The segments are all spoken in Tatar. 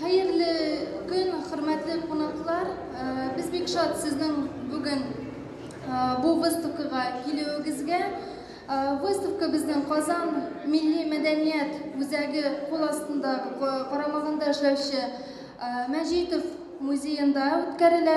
Хәерле көн, хөрмәтле кунаклар. Э, без бик шат сезнең бүген э, бу выставкага килүегезгә. Э, выставка безнең Казан милли мәдәният үзәге кул астында карамагында эшләүче Мәҗитов музеенда үткәрелә.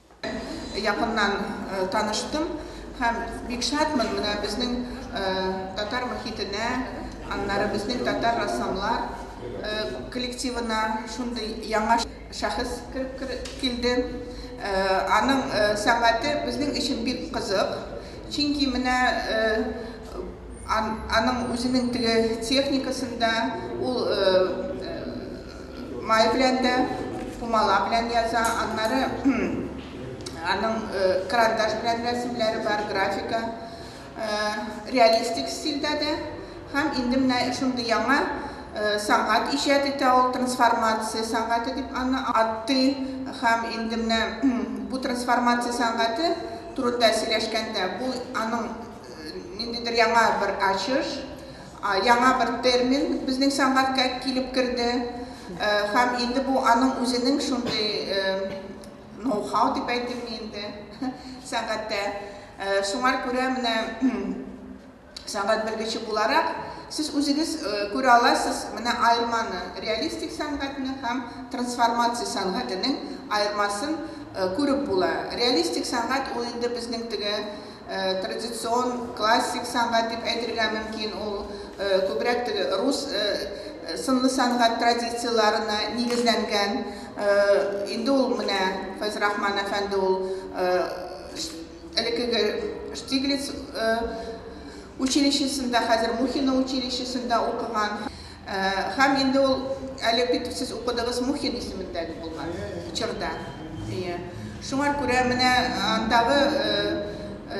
Якыннан таныштым һәм бик шатмын менә безнең татар мохитенә, аннары безнең татар рәссамлар коллективына шундый яңа шәхес кереп килде. Аның сәнгате безнең өчен бик кызык, чөнки менә аның үзенең теге техникасында ул Май белән дә, пумала белән яза, аннары аның карандаш белән рәсемләре бар, графика, реалистик стильдә дә. Һәм инде менә шундый яңа сәнгать иҗат итә ул, трансформация сәнгате дип аны атый. Һәм инде менә бу трансформация сәнгате турында сөйләшкәндә, бу аның ниндидер яңа бер ачыш, Яңа бер термин безнең сәнгатькә килеп керде һәм инде бу аның үзенең шундый ноу-хау дип әйтимме инде сәнгатьтә. Шуңар күрә менә сәнгать белгече буларак, сез үзегез күрә аласыз менә аерманы, реалистик сәнгатьне һәм трансформация сәнгатенең аермасын күреп була. Реалистик сәнгать ул инде безнең теге Традицион, классик сәнгать дип әйтергә мөмкин ул. Күбрәк теге рус сынлы сәнгать традицияләренә нигезләнгән. Инде ул менә Фәйз Рахман әфәнде ул элеккеге Штиглиц училищесында, хәзер Мухино училищесында укыган. Һәм инде ул, әле бит сез укыдыгыз, Мухин исемендәге булган чорда. Әйе. Шуңар күрә менә андагы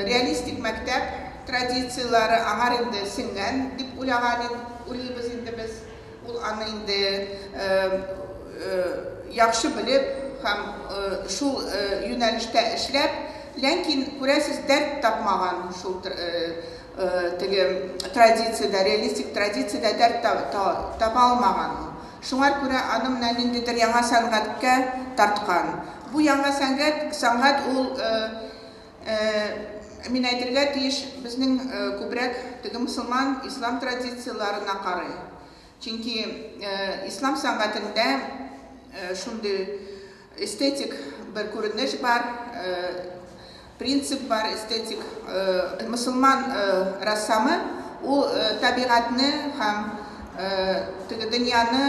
реалистик мәктәп традицияләре аңар инде сеңгән дип уйлаган ин, уйлыйбыз инде без. Ул аны инде яхшы белеп һәм шул юнәлештә эшләп, ләкин, күрәсез, дәрт тапмаган шул Теге традициядә, реалистик традициядә дәрт таба алмаган ул. Шуңар күрә аны менә ниндидер яңа сәнгатькә тарткан. Бу яңа сәнгать, сәнгать ул, мин әйтергә тиеш, безнең күбрәк теге мосылман, ислам традицияләренә карый. Чөнки ислам сәнгатендә шундый Эстетик бер күренеш бар, принцип бар, эстетик. Мосылман рәссамы, ул табигатьне һәм теге дөньяны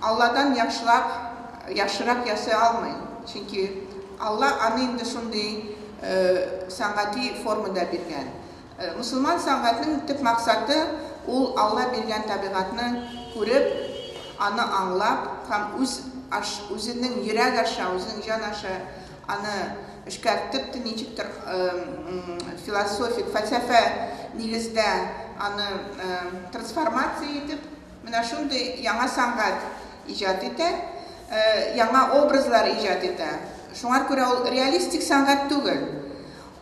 Алладан яхшылап, яхшырак ясый алмый. Чөнки Алла аны инде шундый сәнгати формада биргән. Мөселман сәнгатенең төп максаты, ул Алла биргән табигатьне күреп, аны аңлап һәм үз аш, үзенең йөрәк аша, үзенең җан аша аны эшкәртеп, те ничектер философик, фәлсәфә нигездә аны трансформация итеп, менә шундый яңа сәнгать иҗат итә, яңа образлар иҗат итә. Шуңар күрә ул реалистик сәнгать түгел.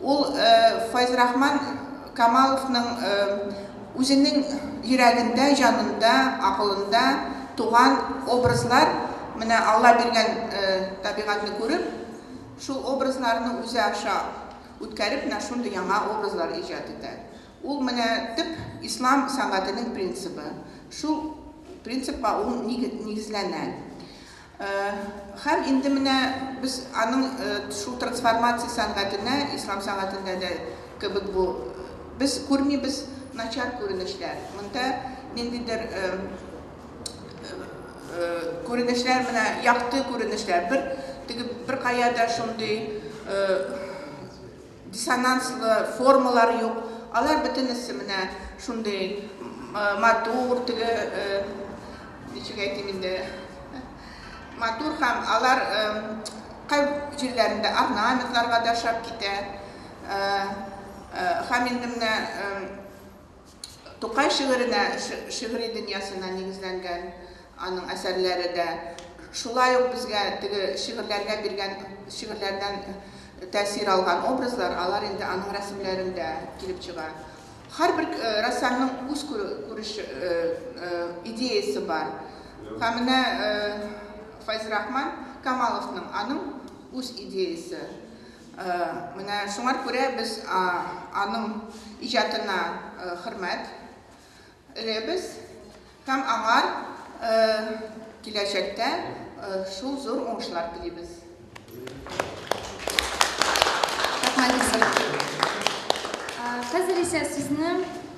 Ул Файзрахман Камаловның үзенең йөрәгендә, җанында, акылында туган образлар, менә Алла биргән табигатьне күреп, шул образларны үзе аша үткәреп, менә шундый яңа образлар иҗат итә. Ул менә төп ислам сәнгатенең принцибы. Шул принципка ул нигезләнә. Һәм инде менә без аның шул трансформация сәнгатенә, ислам сәнгатендә дә кебек бу, без күрмибез начар күренешләр. Монда ниндидер күренешләр, менә якты күренешләр, бер теге беркая да шундый Диссонанслы формалар юк, алар бөтенесе менә шундый матур, теге, ничек әйтим инде, матур һәм алар кай җирләрендә орнаментларга да ошап китә. Һәм инде менә. Тукай шигыренә, шигъри дөньясына нигезләнгән аның әсәрләре дә. Шулай ук безгә теге шигырьләргә биргән, шигырьләрдән тәэсир алган образлар, алар инде аның рәсемләрендә килеп чыга. Һәрбер рәссамның үз күреш, идеясе бар. Һәм менә Файзрахман Камаловның, аның үз идеясе. Менә шуңар күрә без аның иҗатына хөрмәт эләбез һәм аңар киләчәктә шул зур уңышлар телибез. Хәзер исә сезне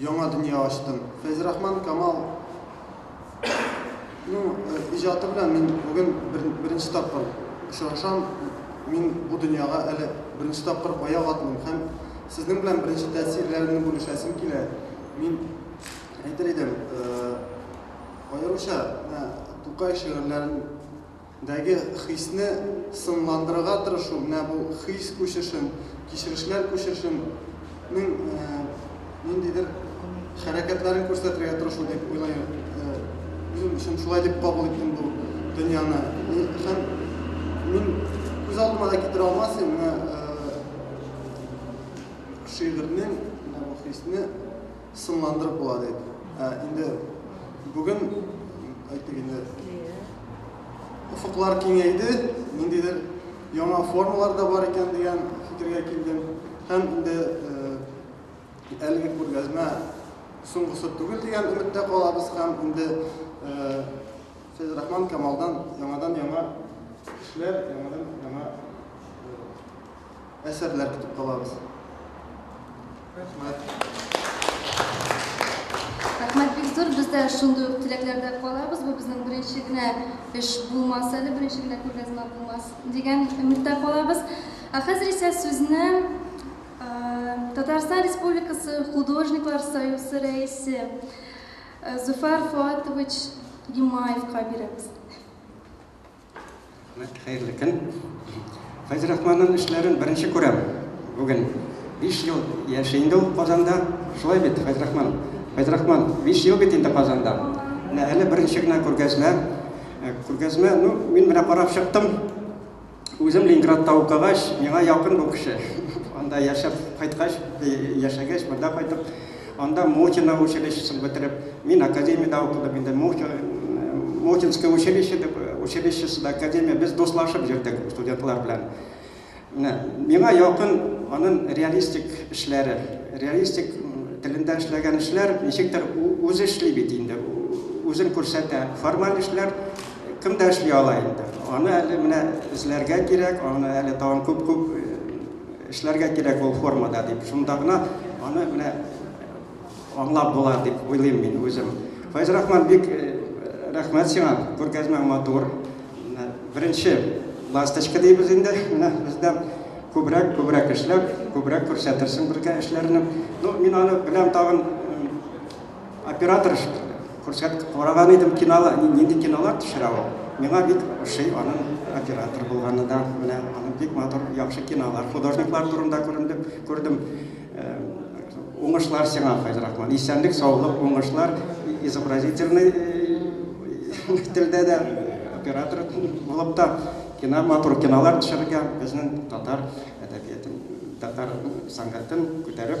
Яңа дөнья ачтым. Фәйзрахман Камал ну, иҗаты белән мин бүген бер, беренче тапкыр очрашам. Мин бу дөньяга әле беренче тапкыр аяк атмыйм һәм сезнең белән беренче тәэсирләрне бүлешәсем килә. Мин әйтер идем, аеруча Тукай шигырьләрен Дәге хисне сынландырырга тырышу, менә бу хис күчешен, кичерешләр күчешен нең ниндидер хәрәкәтләрен күрсәтергә тырышу дип уйлыйм. Үзем өчен шулай дип кабул иттем бу дөньяны. Һәм мин күз алдыма да китерә алмас идем менә шигырьнең менә бу хисне. Соңландырып була дип. Ә инде бүген, әйтик инде, офыклар киңәйде, ниндидер яңа формалар да бар икән дигән фикергә килдем. Һәм инде әлеге күргәзмә соңгысы түгел дигән өметтә калабыз һәм инде Фәйзрахман Камалдан яңадан-яңа эшләр, яңадан-яңа әсәрләр көтеп калабыз. Рәхмәт. Рәхмәт бик зур. Без дә шундый ук теләкләрдә калабыз. Бу безнең беренче генә эш булмас әле, беренче генә күргәзмә булмас дигән өметтә калабыз. Ә хәзер исә сүзне Татарстан Республикасы Художниклар союзы рәисе Зуфар Фуатович Гимаевка бирәбез. Хәерле көн. Фәйз Рахманның эшләрен беренче күрәм бүген. 5 ел яши инде ул Казанда. Шулай бит, Фәйз Рахман? Фәйз Рахман, 5 ел бит инде Казанда. Менә әле беренче генә күргәзмә. Э, күргәзмә, ну, мин менә карап чыктым. Үзем Ленинградта укыгач, миңа якын бу кеше. Анда яшәп кайткач, э, яшәгәч, монда кайтып, Анда Мухино училищесын бетереп, мин академиядә укыдым, инде Мухинское училище дип, училищесы да академия, без дуслашып йөрдек студентлар белән. Менә миңа якын аның реалистик эшләре, реалистик телендә эшләгән эшләр, ничектер үзе эшли бит инде, үзен күрсәтә. Формаль эшләр кем дә эшли ала инде. Аны әле менә эзләргә кирәк, аны әле тагын күп-күп Эшләргә кирәк ул формада дип, шунда гына аны менә аңлап була дип уйлыйм мин үзем. Файз Рахман, бик рәхмәт сиңа, күргәзмәң матур. Беренче ласточка дибез инде, менә бездә күбрәк, күбрәк эшләп, күбрәк күрсәтерсең безгә эшләрне. Ну, мин аны беләм тагын Оператор күрсәт караган идем кинолар, нинди кинолар төшерә ул. Миңа бик ошый аның оператор булганы да, менә аның бик матур, яхшы кинолар, художниклар турында күрендем, күрдем. Уңышлар сиңа, Файзрахман. Исәнлек, саулык, уңышлар, изобразительный телдә дә оператор булып та кино матур кинолар төшерергә, безнең татар әдәбиятын, татар сәнгатен күтәреп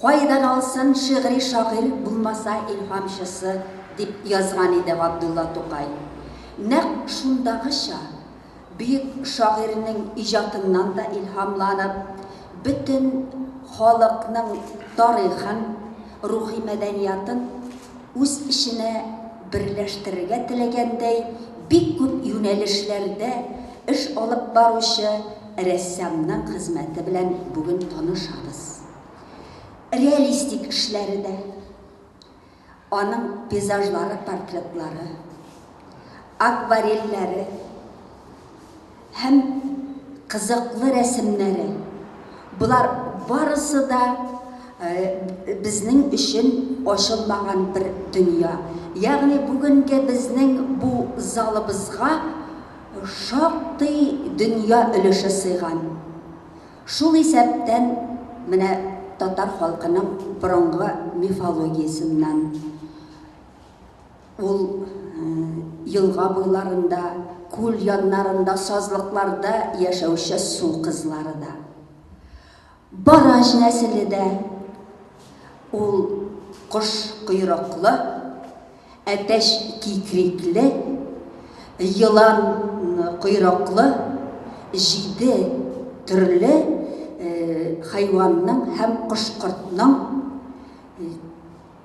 Кайдан алсын шигъри шагыйрь булмаса илһамчысы, дип язган иде Габдулла Тукай. Нәкъ шундагыча, бөек шагыйрьнең иҗатыннан да илһамланып, бөтен халыкның тарихын, рухи мәдәниятын үз эченә берләштерергә теләгәндәй бик күп юнәлешләрдә эш алып баручы Рәссамның хезмәте белән бүген танышабыз. Реалистик эшләре дә, аның пейзажлары, портретлары, акварельләре һәм кызыклы рәсемнәре, болар барысы да безнең өчен ачылмаган бер дөнья. Ягъни бүгенге безнең бу залыбызга, шактый дөнья өлеше сыйган. Шул исәптән менә татар халкының борынгы мифологиясеннән ул елга буйларында, күл яннарында, сазлыкларда яшәүче су кызлары да. Барач нәселе дә ул кош койрыклы, әтәч кикрикле, елан койрыклы, җиде төрле хайванның һәм кош-кортның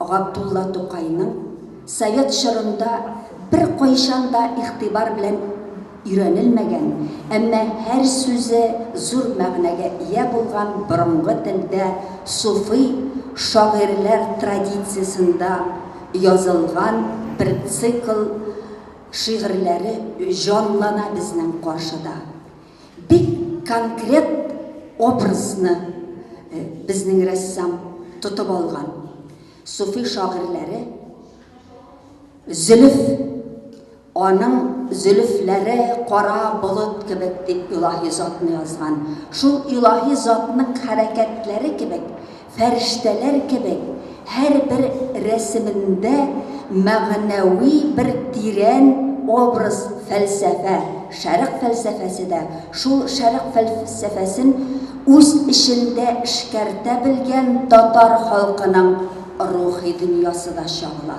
Габдулла Тукайның совет чорында беркайчан да игътибар белән өйрәнелмәгән, әмма һәр сүзе зур мәгънәгә ия булган борынгы телдә суфи шагыйрьләр традициясендә язылган бер цикл шигырьләре җанлана безнең каршыда. бик конкрет образны э, безнең рәссам тотып алган. Суфи шагыйрьләре зөлф аның зөлфләре кара болыт кебек дип илаһи затны язган. Шул илаһи затның хәрәкәтләре кебек Фәрештәләр кебек, һәрбер рәсемендә мәгънәви бер тирән образ, фәлсәфә. Шәрык фәлсәфәсе дә, шул Шәрык фәлсәфәсен үз эчендә эшкәртә белгән татар халкының рухи дөньясы да чагыла.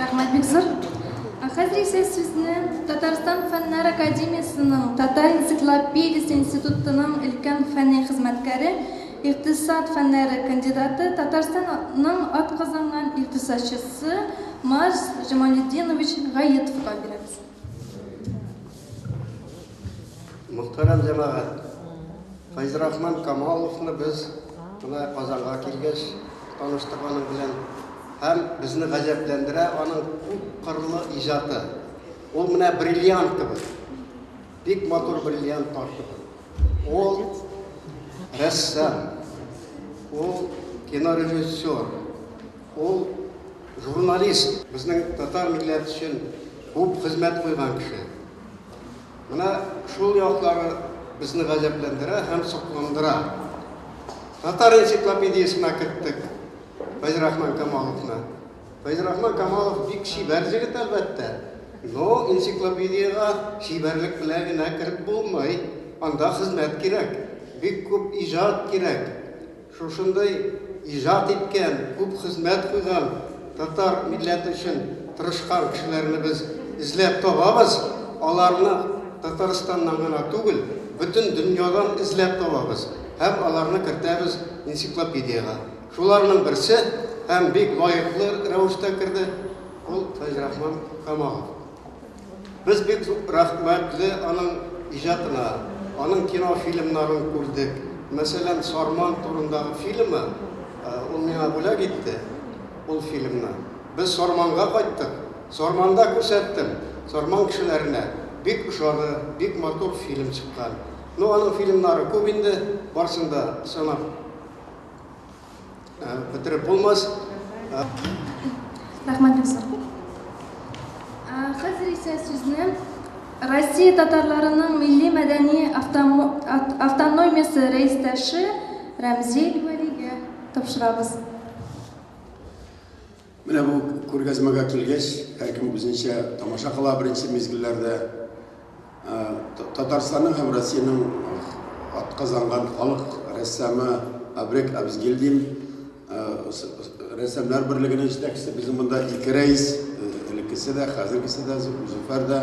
Рәхмәт бик зур. Ә хәзер исә сүзне Татарстан фәннәр академиясенең Татар энциклопедиясе институтының өлкән фәнни хезмәткәре, икътисад фәннәре кандидаты, Татарстанның атказанган икътисадчысы Марс Җамалетдинович Гаетовка бирәбез. Мөхтәрәм җәмәгать, Фәйзрахман Камаловны без менә Казанга килгәч таныштык аның белән. Һәм безне гаҗәпләндерә аның күп кырлы иҗаты. Ул менә бриллиант кебек. Бик матур бриллиант таш кебек. Ул рәссам, ул кинорежиссер, Ул, журналист, безнең татар милләт өчен күп хезмәт куйган кеше. Менә шул яклары безне гаҗәпләндерә һәм сокландыра. Татар энциклопедиясенә керттек Фәйзрахман Камаловны. Фәйзрахман Камалов бик чибәр җегет, әлбәттә. Но энциклопедиягә чибәрлек белән генә кереп булмый. Анда хезмәт кирәк, бик күп иҗат кирәк. Шушындый иҗат иткән, күп хезмәт куйган, татар милләте өчен тырышкан кешеләрне без эзләп табабыз, аларны Татарстаннан гына түгел, бөтен дөньядан эзләп табабыз һәм аларны кертәбез энциклопедиягә. Шуларның берсе, һәм бик лаеклы рәвештә керде, ул Фәйзрахман Камалов. Без бик рәхмәтле аның иҗатына. Аның кинофильмнарын күрдек. Мәсәлән, Сарман турындагы фильмы, ул миңа бүләк итте ул фильмны. Без Сарманга кайттык. Сарманда күрсәттем. Сарман кешеләренә бик ошады, бик матур фильм чыккан. Ну, аның фильмнары күп инде, барсын да санап. бетереп булмас. Рәхмәт бик зур. Хәзер исә сүзне Россия татарларының милли мәдәни автономиясе рәистәше Рәмзил Вәлигә тапшырабыз. Менә бу күргәзмәгә килгәч, һәркем үзенчә тамаша кыла беренче мизгелләрдә. Татарстанның һәм Россиянең атказанган халык рәссамы Абрек Абзгильдин, рәссамнар берлегенең җитәкчесе, безнең монда ике рәис, элеккесе дә, хәзергесе дә, Зөфәр дә,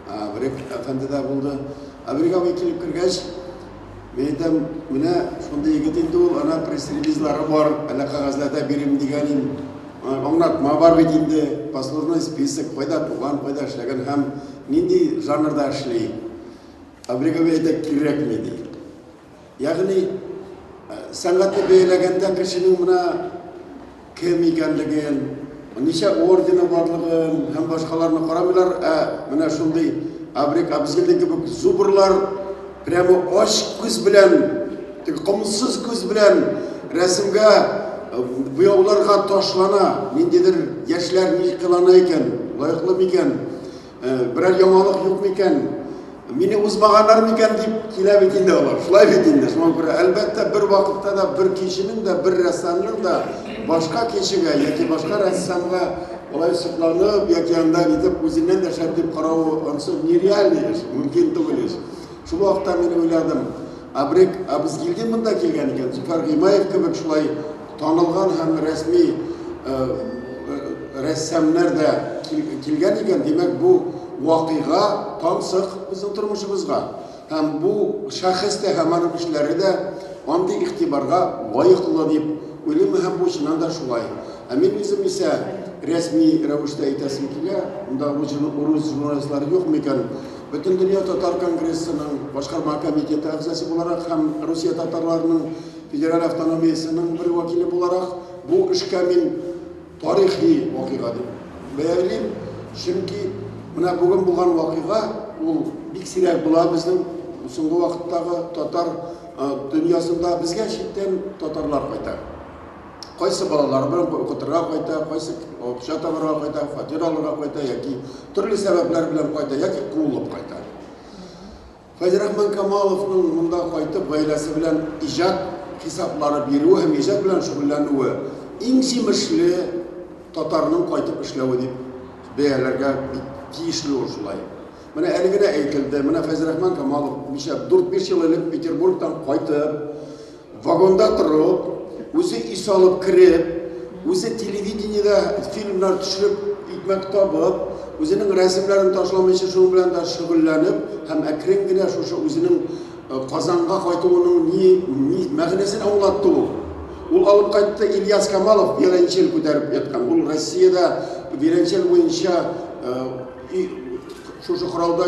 Абрек әфәнде дә булды. Абрек абый килеп кергәч, Мин әйтәм, менә шундый егет инде ул, ана пресс-релизлары бар, әллә кәгазьләрдә бирим дигән ин. Аңлатма бар бит инде, послужной список, кайда туган, кайда эшләгән һәм нинди жанрда эшли. Абригови әйтә кирәкми ди. Ягъни сәнгатьне бәяләгәндә кешенең менә кем икәнлеген, ничә ордены барлыгын һәм башкаларны карамыйлар, ә менә шундый Абрик Абзелдин кебек зубрлар прямо ач күз белән, теге комсыз күз белән рәсемгә э, буяуларга ташлана. Ниндидер яшьләр ни кылана икән, лаеклы микән? Э, берәр яңалык юк микән? Мине узмаганнар микән дип килә бит инде алар. Шулай бит инде. Шуңа күрә әлбәттә бер вакытта да бер кешенең дә бер рәссамның да башка кешегә яки башка рәссамга алай сокланып яки анда итеп үзеннән дә шәп дип каравы онсы нереальный эш, мөмкин түгел эш. Шул вакытта мин уйладым, Абрек Абызгилдин монда килгән икән, Зөфәр Гыймаев кебек шулай Танылган һәм рәсми рәссамнар да килгән икән, димәк, бу вакыйга тансык безнең тормышыбызга. Һәм бу шәхес тә һәм аның эшләре дә андый игътибарга лаеклы дип уйлыйм һәм бу чыннан да шулай. Ә мин үзем исә рәсми рәвештә әйтәсем килә, монда урыс журналистлары юк микән? Бөтен дөнья татар конгрессының башкарма комитеты әгъзасы буларак һәм Русия татарларының Федераль автономиясенең бер вәкиле буларак, бу эшкә мин тарихи вакыйга дип бәялим. Чөнки менә бүген булган вакыйга ул бик сирәк була безнең соңгы вакыттагы татар дөньясында. Безгә читтән татарлар кайта. Кайсы балалары белән укытырга кайта, кайсы акча табарга кайта, фатир алырга кайта яки төрле сәбәпләр белән кайта яки куылып кайта. Фәйзрахман Камаловның монда кайтып гаиләсе белән иҗат хисаплары бирүе һәм иҗат белән шөгыльләнүе иң җимешле татарның кайтып эшләве дип бәяләргә бик тиешле ул шулай. Менә әле генә әйтелде, менә Фәйзрахман Камалов ничә дүрт-биш ел элек Петербургтан кайтып, Вагонда торып, үзе ис алып кереп, үзе телевидениедә фильмнар төшереп, икмәк табып, үзенең рәсемнәрен ташламыйча шуның белән дә шөгыльләнеп һәм әкрен генә шушы үзенең э, Казанга кайтуының ни, ни мәгънәсен аңлатты ул. Ул алып кайтты Ильяс Камалов виолончель күтәреп яткан. Ул Россиядә виолончель буенча э, И шушы коралда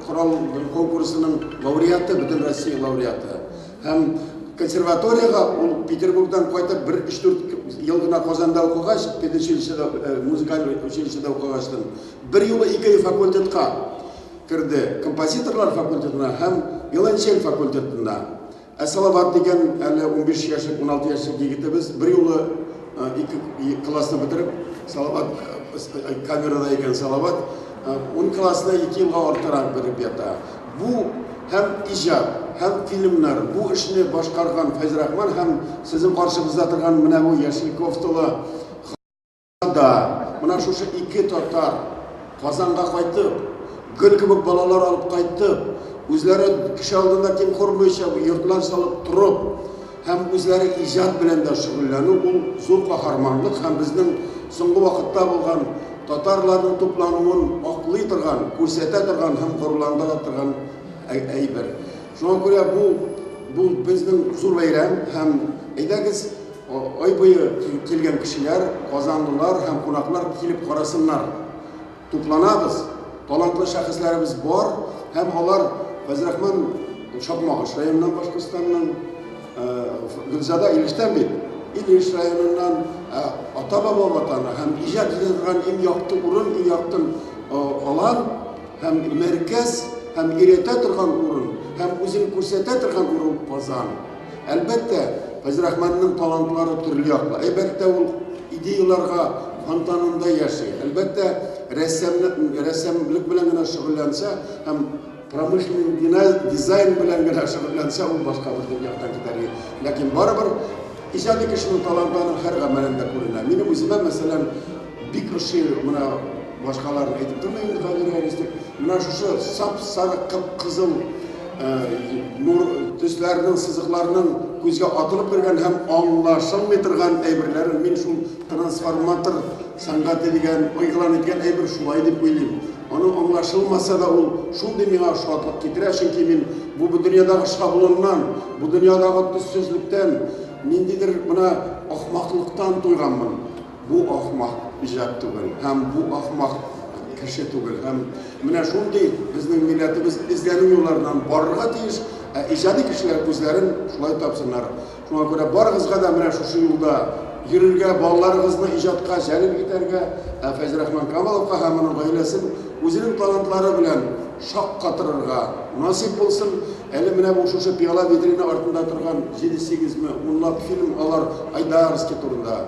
корал конкурсының лауреаты, бөтен Россия лауреаты. Һәм консерваториягә ул Петербургдан кайтып бер 3-4 ел гына Казанда укыгач, педучилищеда, э, музыкаль училищеда укыгачтан, бер юлы ике факультетка керде. Композиторлар факультетына һәм виолончель факультетына. Ә Салават дигән әле унбиш яшьлек, уналты яшьлек егетебез берьюлы ике классны бетереп, Салават камерада икән Салават, ун классны ике елга артырак бетереп ята. Бу һәм иҗат, һәм фильмнар, бу эшне башкарган Фәйзрахман һәм сезнең каршыбызда торган менә бу яшел кофталы Да, менә шушы ике татар Казанга кайтып, гөл кебек балалар алып кайтып, үзләре кеше алдында тиң кормыйча, йортлар салып торып, һәм үзләре иҗат белән дә шөгыльләнү ул зур каһарманлык һәм безнең соңгы вакытта булган татарларның туплануын аклый торган, күрсәтә торган һәм горурландыра торган әйбер. Шуңа күрә бу бу безнең зур бәйрәм һәм әйдәгез Ай буе килгән кешеләр, казанлылар һәм кунаклар килеп карасыннар. Тупланабыз, талантлы шәхесләребез бар һәм алар Фәйзрахман Чакмагыш районыннан Башкортстанның, Гөлзада Илештән бит, Илеш районыннан ата-баба ватаны һәм иҗат итә торган иң якты урын, иң якты алан һәм мәркәз һәм өйрәтә торган урын һәм үзен күрсәтә торган урын Казан. Әлбәттә, Фәйзрахманның талантлары төрле яклы. Әлбәттә, ул идеяләргә фонтанында яши. Әлбәттә, рәссамлык, рәссамлык белән генә шөгыльләнсә һәм промышленный дизайн белән генә шөгыльләнсә, ул башка бер дөньядан китәр. Ләкин барыбер иҗади кешенең таланты аның һәр гамәлендә күренә. Минем үземә, мәсәлән, Бик ошый менә башкалар әйтеп тормый инде хәзер реалистик. Менә шушы сап-сары кып-кызыл нур төсләрнең сызыкларның күзгә атылып кергән һәм аңлашылмый торган әйберләр мин шул трансформатор сәнгате дигән игълан иткән әйбер шулай дип уйлыйм. Аның аңлашылмаса да ул шундый миңа шатлык китерә, чөнки мин бу бу дөньядагы шаблоннан, бу дөньядагы төссезлектән, ниндидер менә ахмаклыктан туйганмын. Бу ахмак иҗат түгел һәм бу ахмак кеше түгел һәм менә шундый безнең милләтебез эзләнү юлларыннан барырга тиеш, ә иҗади кешеләр үзләрен шулай тапсыннар. Шуңа күрә барыгызга да менә шушы юлда йөрергә, балаларыгызны иҗатка җәлеп итәргә, ә Фәйзрахман Камаловка һәм аның гаиләсен үзенең талантлары белән шаккатырырга насыйп булсын. Әле менә бу шушы пиала-витрина артында торган җиде-сигезме унлап фильм алар Айдарский турында,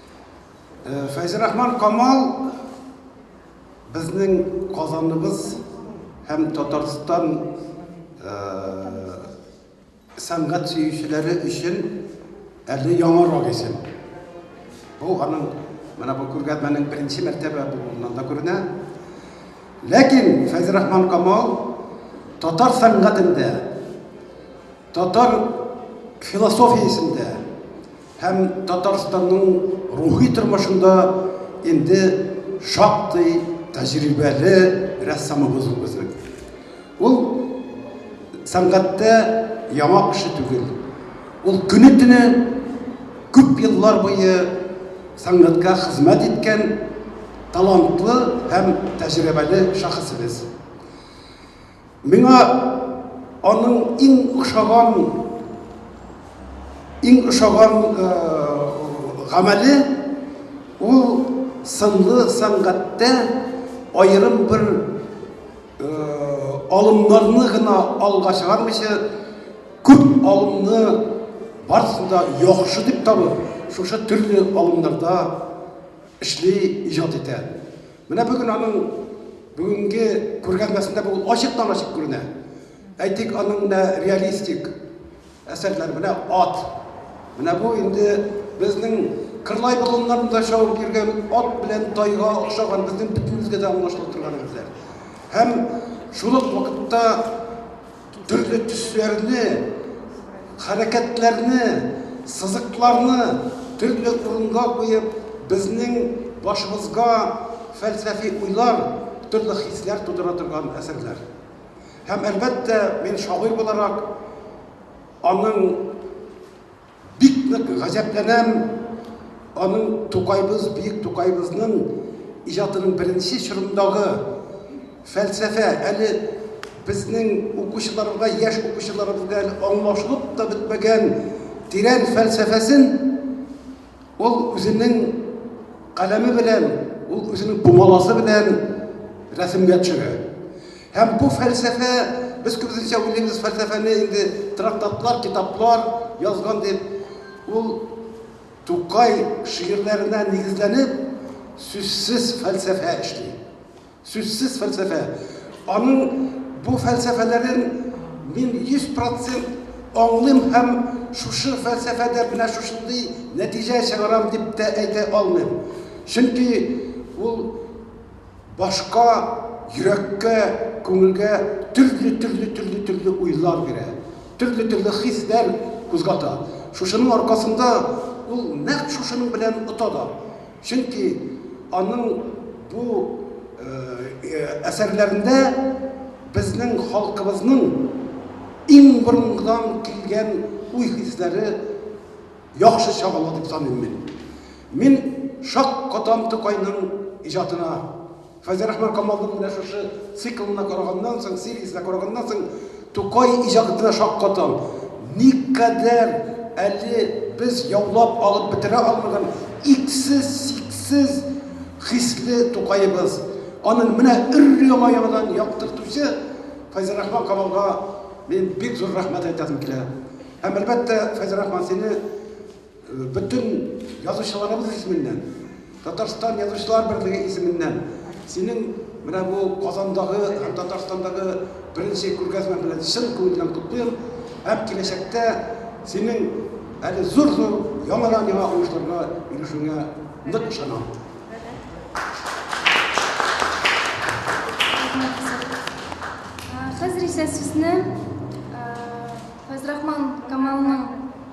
Э, Фәйзрахман Камал безнең Казаныбыз һәм Татарстан э, сәнгать сөючеләре өчен әле яңа рагисен. Бу аның менә бу күргәзмәнең беренче мәртәбә булуыннан да күренә. Ләкин Фәйзрахман Камал татар сәнгатендә, татар философиясендә Һәм Татарстанның рухи тормышында инде шактый тәҗрибәле рәссамыбыз ул безнең. Ул сәнгатьтә яңа кеше түгел. Ул көне-төне күп еллар буе сәнгатькә хезмәт иткән талантлы һәм тәҗрибәле шәхесебез. Миңа аның иң ошаган иң ошаган э, гамәле ул сынлы сәнгатьтә аерым бер э, алымнарны гына алга чыгармыйча күп алымны барысын да яхшы дип табып шушы төрле алымнарда эшли иҗат итә Менә бүген аның бүгенге күргәзмәсендә бу ачыктан-ачык күренә. Әйтик, аның менә реалистик әсәрләр менә ат. Менә бу инде безнең Кырлай болыннарында шауып йөргән ат белән тайга охшаган безнең бөтенебезгә дә аңлашылып торган әсәр. Һәм шул ук вакытта Төрле төсләрне, хәрәкәтләрне, сызыкларны төрле урынга куеп, безнең башыбызга фәлсәфи уйлар, төрле хисләр тудыра торган әсәрләр. Һәм, әлбәттә, мин шагыйрь буларак аның Бик нык гаҗәпләнәм аның Тукайбыз, бөек Тукайбызның иҗатының беренче чорындагы фәлсәфә әле безнең укучыларга, яшь укучыларыбызга әле аңлашылып та бетмәгән тирән фәлсәфәсен Ул үзенең каләме белән, ул үзенең пумаласы белән рәсемгә төшерә. Һәм бу фәлсәфә, без күбесенчә уйлыйбыз фәлсәфәне инде трактатлар, китаплар язган дип, ул Тукай шигырьләренә нигезләнеп, сүзсез фәлсәфә эшли. Сүзсез фәлсәфә. Аның бу фәлсәфәләрен мин йөз процент аңлыйм һәм шушы фәлсәфәдә менә шушындый нәтиҗә чыгарам дип тә әйтә алмыйм. Чөнки ул башка, йөрәккә, күңелгә төрле, төрле, төрле, төрле уйлар бирә, төрле, төрле хисләр кузгата. Шушының аркасында ул нәкъ шушының белән ота да. Чөнки аның бу әсәрләрендә безнең халкыбызның иң борынгыдан килгән уй-хисләре яхшы чагыла дип саныйм мин. Мин шаккатам Тукайның иҗатына. Хәзер Әхмәр Камалның менә шушы циклына караганнан соң, сериясенә караганнан соң, Тукай иҗатына шаккатам. Никадәр әле без яулап алып бетерә алмаган иксез-чиксез хисле Тукаебыз! Аның менә өр-яңа яңадан яктыртучы Фәйзрахман Камалга мин бик зур рәхмәт әйтәсем килә. Һәм, әлбәттә, Фәйзрахман, сине. Бөтен язучыларыбыз исеменнән, Татарстан Язучылар берлеге исеменнән синең менә бу Казандагы һәм Татарстандагы беренче күргәзмә белән чын күңелдән котлыйм һәм киләчәктә синең әле зур-зур яңадан-яңа уңышларга ирешүеңә нык ышанам. Хәзер исә сезне Фәйзрахман Камалның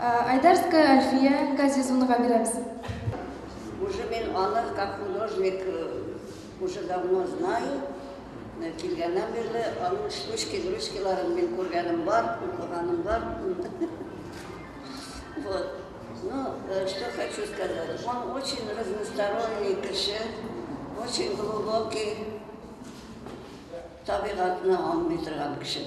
Айдарская Альфия Газизунага бирәбез. Уже мин аны как художник уже давно знаю. Килгәннән бирле аның штучки, грушкиларын мин күргәнем бар, укыганым бар. Вот. Ну, э, что хочу сказать. Он очень разносторонний кеше, очень глубокий табигатьне аңлый торган кеше.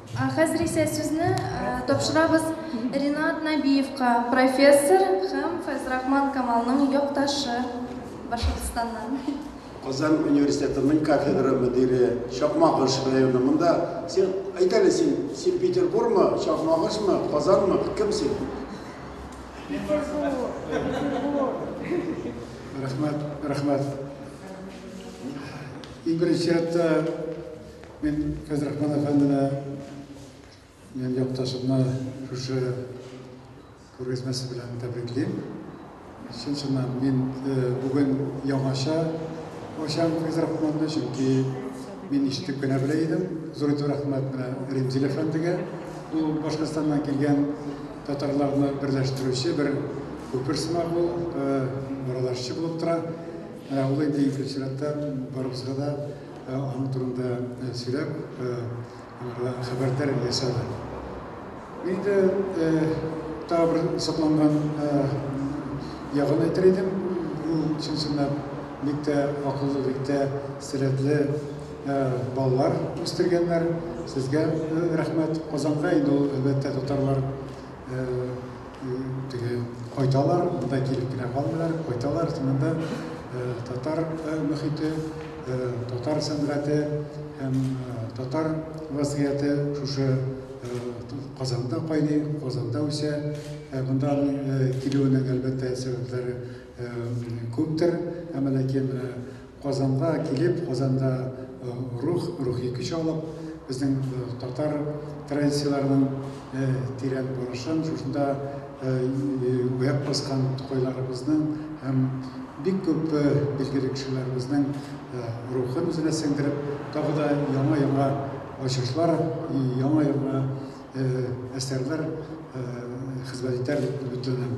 Ә хәзер исә сүзне тапшырабыз Ринат Нәбиевка, профессор һәм Фәйзрахман Камалның якташы Башкортстаннан. Казан университетының кафедра мөдире, Чакмагыш районы, монда син, әйт әле, син, син Петербурмы, Чакмагышмы, Казанмы, кем син? Рәхмәт, рәхмәт. Иң беренче рәттә Мин Фәйзрахман әфәндене, минем якташымны шушы күргәзмәсе белән тәбриклим. Чын-чыннан мин бүген яңача ачам Фәйзрахманны, чөнки мин ишетеп кенә белә идем. Зур итеп рәхмәт менә Римзил әфәндегә. Ул Башкортстаннан килгән татарларны берләштерүче бер күпер сымак ул, аралашчы булып тора. Менә ул инде икенче чиратта барыбызга да Аның турында сөйләп, аңарга хәбәрдар ясады. Инде тагы бер сокланган ягын әйтер идем. Ул чын-чынлап бик тә акыллы, бик тә сәләтле балалар үстергәннәр. Сезгә рәхмәт. Казанга инде ул, әлбәттә, татарлар теге кайталар, монда килеп кенә калмыйлар, кайталар, шунда татар мөхите, татар сәнгате һәм татар вазгыяте шушы Казанда кайный, Казанда үсә. Ә монда килүенең әлбәттә сәбәпләре күптер, әмма ләкин Казанга килеп, Казанда рух, рухи көч алып, безнең татар традицияләренең тирән барышын, шушында үәк баскан тукайларыбызның һәм бик күп билгеле кешеләребезнең рухын үзенә сеңдереп, тагы да яңа-яңа ачышлар, яңа-яңа әсәрләр хезмәт итәр дип өметләнәм.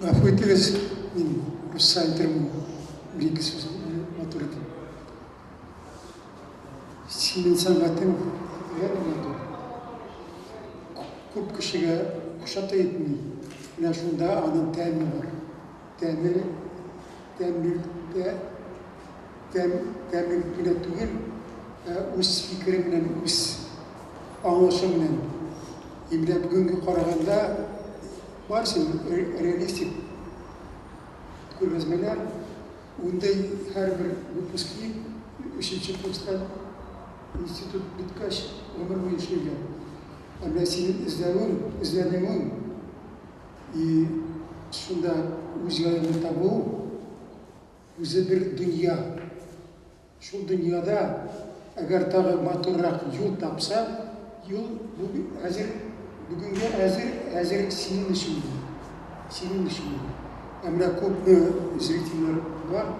Гафу итегез, мин русча әйтермен, бер-ике сүз матур итеп. Синең сәнгатең бигрәк матур. Күп кешегә ошата итми. Менә шунда аның тәме бар. Тәне тәмлилектә, тәм, тәмлилек кенә түгел, ә үз фикере белән, үз аңлашы белән. И менә бүгенге караганда барысы реалистик күргәзмәләр, ундый һәрбер выпускник өченче курстан институт беткәч гомер буе эшлиләр. Ә менә синең эзләвең, эзләнүең И шунда үз җаеңны табу, үзе бер дөнья. Шул дөньяда, әгәр тагы матуррак юл тапса, юл бу әзер, бүгенге әзер, әзер синең өчен дә, синең өчен дә. Ә менә күпме зрительләр бар,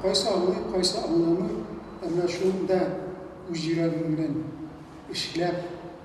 кайсы аңлый, кайсы аңламый, ә менә шунда үз йөрәгең белән эшләп,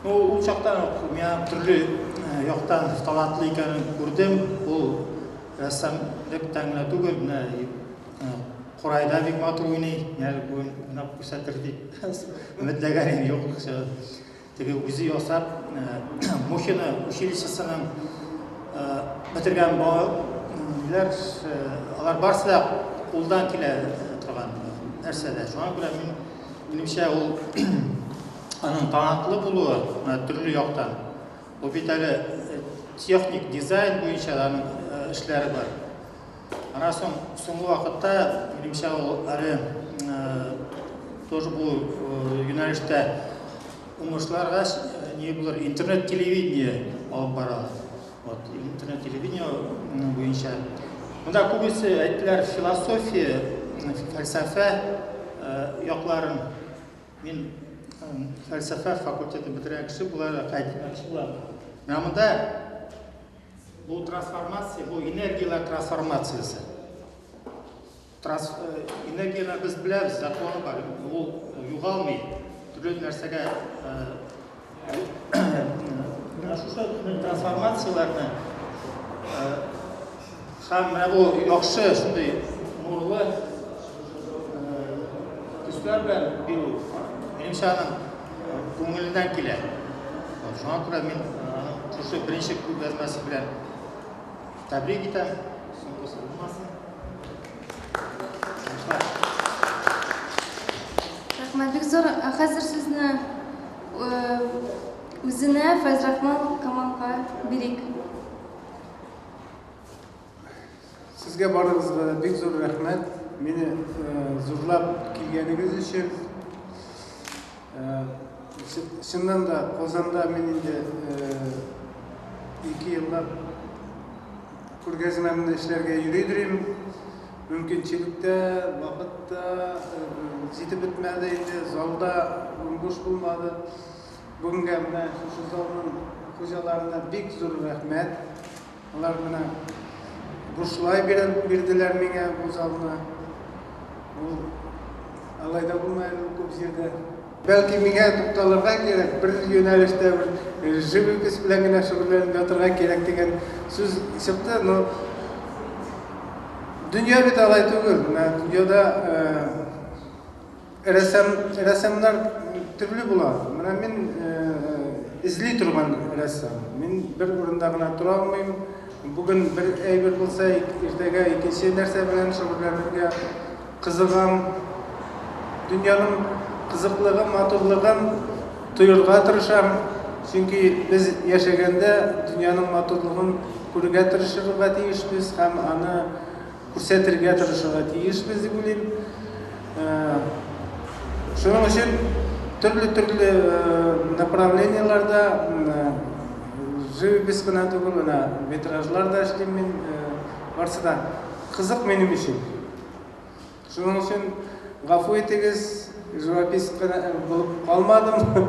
Ул чактан ук миңа төрле яктан талантлы икәнен күрдем. Ул рәссам дип тәңгә түгел, менә курайда бик матур уйный, менә бүген уйнап күрсәтер дип өметләгәнем юк. Теге үзе ясап, Мухино училищесының бетергән балалар, алар барсы да кулдан килә торган нәрсәләр. Шуңа күрә мин, минемчә, ул аның талантлы булуы төрле яктан. Ул бит әле техник дизайн буенча аның эшләре бар. Аннан соң соңгы вакытта, минемчә, ул әле тоже бу юнәлештә уңышларга не булыр интернет-телевидение алып бара. Вот, интернет-телевидение буенча. Монда күбесе әйттеләр философия, фәлсәфә якларын. Мин фәлсәфә факультеты бетерә кеше була, кайтмакчы була. Менә монда Бу трансформация, бу энергияләр трансформациясе. Транс, э, энергияне без беләбез, законы бар. Ул югалмый. Төрле нәрсәгә шушы трансформацияләрне Һәм менә бу яхшы шундый нурлы төсләр белән бирү, минемчә, аның күңеленнән килә. Шуңа күрә мин шушы беренче күргәзмәсе белән тәбрик итәм. Соңгысы булмасын. Рәхмәт, бик зур. Хәзер сезне үзенә Фәйзрахман Камалга бирик. Сезгә барыгызга да бик зур рәхмәт. Мине э, зурлап килгәнегез өчен. Э, чыннан да Казанда мин инде э, ике еллап күргәзмәмне эшләргә йөридер идем. Мөмкинчелек тә, вакыт та җитеп бетмәде инде, залда буш булмады. Бүгенгә менә шушы залның хуҗаларына бик зур рәхмәт. Алар менә бушлай белән бирделәр миңа бу залны. Ул алай да булмый әле ул күп җирдә. Бәлки миңа тукталырга кирәк, бер юнәлештә, бер живопись белән генә шөгыльләнеп ятырга кирәк дигән сүз чыкты, но дөнья бит алай түгел, менә дөньяда Рәсәм рәсәмнәр төрле була. Менә мин эзли торган рәссам. Мин бер урында гына тора алмыйм. Бүген бер әйбер булса, иртәгә икенче нәрсә белән шөгыльләнергә кызыгам. Дөньяның кызыклыгын, матурлыгын тоерга тырышам. Чөнки без яшәгәндә дөньяның матурлыгын күрергә тырышырга тиешбез һәм аны күрсәтергә тырышырга тиешбез дип уйлыйм. Шуның өчен төрле-төрле направлениеләрдә живопись кына түгел, менә витражлар да эшлим мин. Барсы да кызык минем өчен. Шуның өчен гафу итегез, живописец булып калмадым.